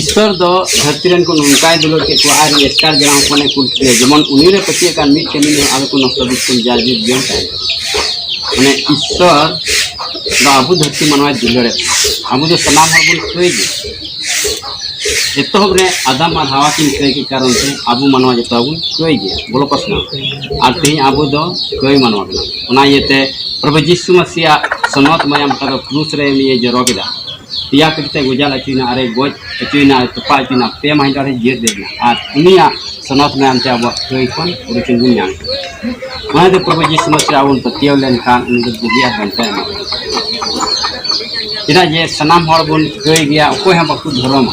ᱤᱥᱥᱚᱨ ᱫᱚ ᱫᱷᱟᱹᱨᱛᱤ ᱨᱮᱱ ᱠᱚ ᱱᱚᱝᱠᱟᱭ ᱫᱩᱞᱟᱹᱲ ᱠᱮᱫ ᱠᱚᱣᱟ ᱟᱨ ᱮᱥᱠᱟᱨ ᱡᱟᱱᱟᱢ ᱦᱚᱯᱚᱱᱮ ᱠᱩᱞ ᱠᱮᱫᱮᱭᱟ ᱡᱮᱢᱚᱱ ᱩᱱᱤ ᱨᱮ ᱯᱟᱹᱛᱭᱟᱹᱜ ᱠᱟᱱ ᱢᱤᱫ ᱠᱟᱹᱢᱤ ᱦᱚᱸ ᱟᱞᱚ ᱠᱚ ᱱᱚᱥᱴᱚ ᱵᱤᱥᱠᱩᱞ ᱡᱟ ᱡᱤᱵᱽ ᱡᱤᱭᱚᱱ ᱛᱟᱦᱮᱱ ᱢᱟᱱᱮ ᱤᱥᱥᱚᱨ ᱫᱚ ᱟᱵᱚ ᱫᱷᱟᱹᱨᱛᱤ ᱢᱟᱱᱣᱟᱭ ᱫᱩᱞᱟᱹᱲᱮᱫ ᱵᱚᱱᱟ ᱟᱵᱚ ᱫᱚ ᱥᱟᱱᱟᱢ ᱦᱚᱲ ᱵᱚᱱ ᱠᱟᱹᱭ ᱜᱮ ᱮᱛᱚᱦᱚᱵ ᱨᱮ ᱟᱫᱟᱢ ᱟᱨ ᱦᱟᱣᱟ ᱠᱤᱱ ᱠᱟᱹᱭ ᱠᱮᱫ ᱠᱟᱨᱚᱱ ᱛᱮ ᱟᱵᱚ ᱢᱟᱱᱣᱟ ᱡᱚᱛᱚ ᱵᱚᱱ ᱠᱟᱹᱭ ᱜᱮᱭᱟ ᱵᱚᱞᱚ ᱯᱟᱥᱱᱟ ᱟᱨ ᱛᱮᱦᱮᱧ ᱟᱵᱚ ᱫᱚ ᱠᱟᱹᱭ ᱢᱟᱱᱣᱟ ᱠᱟᱱᱟ ᱚᱱᱟ ᱤᱭᱟᱹᱛᱮ ᱯᱨᱚᱵᱷᱩ ᱡᱤᱥᱩ ᱢᱟᱹᱥᱤᱭᱟᱜ ᱥᱚᱱᱚᱛ ᱢᱟᱭᱟᱢ ᱛᱟᱫᱚ ᱠᱨᱩᱥ ᱨᱮ ᱩᱱᱤᱭ ᱡᱚᱨᱚ ᱠᱮᱫᱟ ᱯᱮᱭᱟ ᱠᱟᱛᱮ ᱜᱚᱡᱟᱞ ᱦᱚᱪᱚᱭᱮᱱᱟ ᱟᱨᱮ ᱜᱚᱡ ᱦᱚᱪᱚᱭᱮᱱᱟ ᱛᱚᱯᱟ ᱦᱚᱪᱚᱭᱮᱱᱟ ᱯᱮ ᱢᱟᱹᱦᱤᱛ ᱟᱨᱮ ᱡᱤᱭᱟᱹᱲ ᱞᱮᱫ ᱢᱮᱭᱟ ᱟᱨ ᱩᱱᱤᱭᱟᱜ ᱥᱚᱱᱚᱛ ᱢᱮᱱ ᱛᱮ ᱟᱵᱚᱣᱟᱜ ᱠᱟᱹᱭ ᱠᱷᱚᱱ ᱩᱰᱩᱠᱮᱱ ᱵᱚᱱ ᱧᱟᱢ ᱠᱮᱫᱟ ᱱᱚᱣᱟ ᱫᱚ ᱯᱨᱚᱵᱷᱩ ᱡᱤᱥᱩ ᱢᱟᱥᱤ ᱟᱵᱚ ᱵᱚᱱ ᱯᱟᱹᱛᱭᱟᱹᱣ ᱞᱮᱱᱠᱷᱟᱱ ᱩᱱᱤ ᱫᱚ ᱵᱩᱜᱤ ᱟᱨ ᱵᱟᱧᱪᱟᱣ ᱮᱢᱟ ᱵᱚᱱᱟ ᱪᱮᱫᱟᱜ ᱡᱮ ᱥᱟᱱᱟᱢ ᱦᱚᱲ ᱵᱚᱱ ᱠᱟᱹᱭ ᱜᱮᱭᱟ ᱚᱠᱚᱭ ᱦᱚᱸ ᱵᱟᱠᱚ ᱫᱷᱚᱨᱚᱢᱟ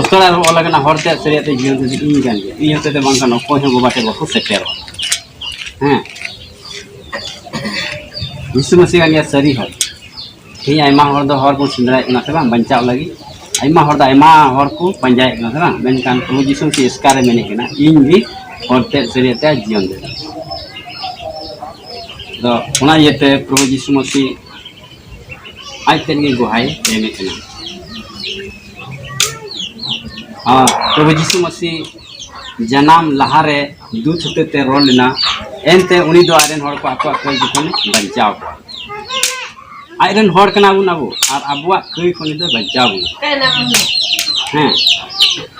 ᱩᱥᱠᱟᱲᱟ ᱚᱞ ᱠᱟᱱᱟ ᱦᱚᱲ ᱛᱮ ᱥᱟᱹᱨᱤᱭᱟᱜ ᱛᱮ ᱡᱤᱭᱚᱱ ᱛᱮ ᱤᱧ ᱠᱟᱱ ᱜᱮᱭᱟ ᱤᱧ ᱦᱚᱛᱮ ᱛᱮ ᱵᱟᱝ ᱠᱟᱱᱟ ᱚᱠᱚᱭ ᱦᱚᱸ ᱵᱟᱵᱟ ᱴᱷᱮᱱ ᱵᱟᱠᱚ ᱥᱮᱴᱮᱨᱚᱜᱼᱟ ᱦᱮᱸ ᱡᱤᱥᱩ ᱢᱟᱹᱥᱤ ᱠᱟᱱ ᱜᱮᱭᱟ ᱥᱟᱹᱨᱤ ᱦᱚᱲ ᱛᱮᱦᱮᱧ ᱟᱭᱢᱟ ᱦᱚᱲ ᱫᱚ ᱦᱚᱨ ᱵᱚᱱ ᱥᱮᱸᱫᱽᱨᱟᱭᱮᱫ ᱠᱟᱱᱟ ᱥᱮ ᱵᱟᱝ ᱵᱟᱧᱪᱟᱣ ᱞᱟᱹᱜᱤᱫ ᱟᱭᱢᱟ ᱦᱚᱲ ᱫᱚ ᱟᱭᱢᱟ ᱦᱚᱲ ᱠᱚ ᱯᱟᱸᱡᱟᱭᱮᱫ ᱠᱟᱱᱟ ᱥᱮ ᱵᱟᱝ ᱢᱮᱱᱠᱷᱟᱱ ᱯᱨᱚᱵᱷᱩ ᱡᱤᱥᱩ ᱢᱟᱹᱥᱤ ᱮᱥᱠᱟᱨᱮ ᱢᱮᱱᱮᱫ ᱠᱟᱱᱟ ᱤᱧ ᱜᱮ ᱦᱚᱲ ᱛᱮ ᱥᱟᱹᱨᱤᱭᱟᱜ ᱛᱮ ᱡᱤᱭᱚᱱ ᱫᱚ ᱚᱱᱟ ᱤᱭᱟᱹᱛᱮ ᱯᱨᱚᱵᱷᱩ ᱡᱤᱥᱩ ᱢᱟᱹᱥᱤ ᱟᱡ ᱛᱮᱫ ᱜᱮ ᱜᱚᱦᱟᱭ ᱮᱢᱮᱫ ᱠᱟᱱᱟ ᱟᱨ ᱯᱨᱚᱵᱷᱩ ᱡᱤᱥᱩ ᱢᱟᱹᱥᱤ ᱡᱟᱱᱟᱢ ᱞᱟᱦᱟᱨᱮ ᱫᱩᱛ ᱦᱚᱛᱮ ᱛᱮ ᱨᱚᱲ ᱞᱮᱱᱟ ᱮᱱᱛᱮ ᱩᱱᱤ ᱫᱚ ᱟᱡᱨᱮᱱ ᱦᱚᱲ ᱠᱚ ᱟᱠᱚᱣᱟᱜ ᱠᱟᱹᱭ ᱡᱚᱠᱷᱚᱱ ᱵᱟᱧᱪᱟᱣ ᱠᱚᱣᱟ ᱟᱡᱨᱮᱱ ᱦᱚᱲ ᱠᱟᱱᱟ ᱵᱚᱱ ᱟᱵᱚ ᱟᱨ ᱟᱵᱚᱣᱟᱜ ᱠᱟᱹᱭ ᱠᱷᱚᱱ ᱫᱚ ᱵᱟᱧᱪᱟᱣ ᱵᱚᱱᱟ ᱦᱮᱸ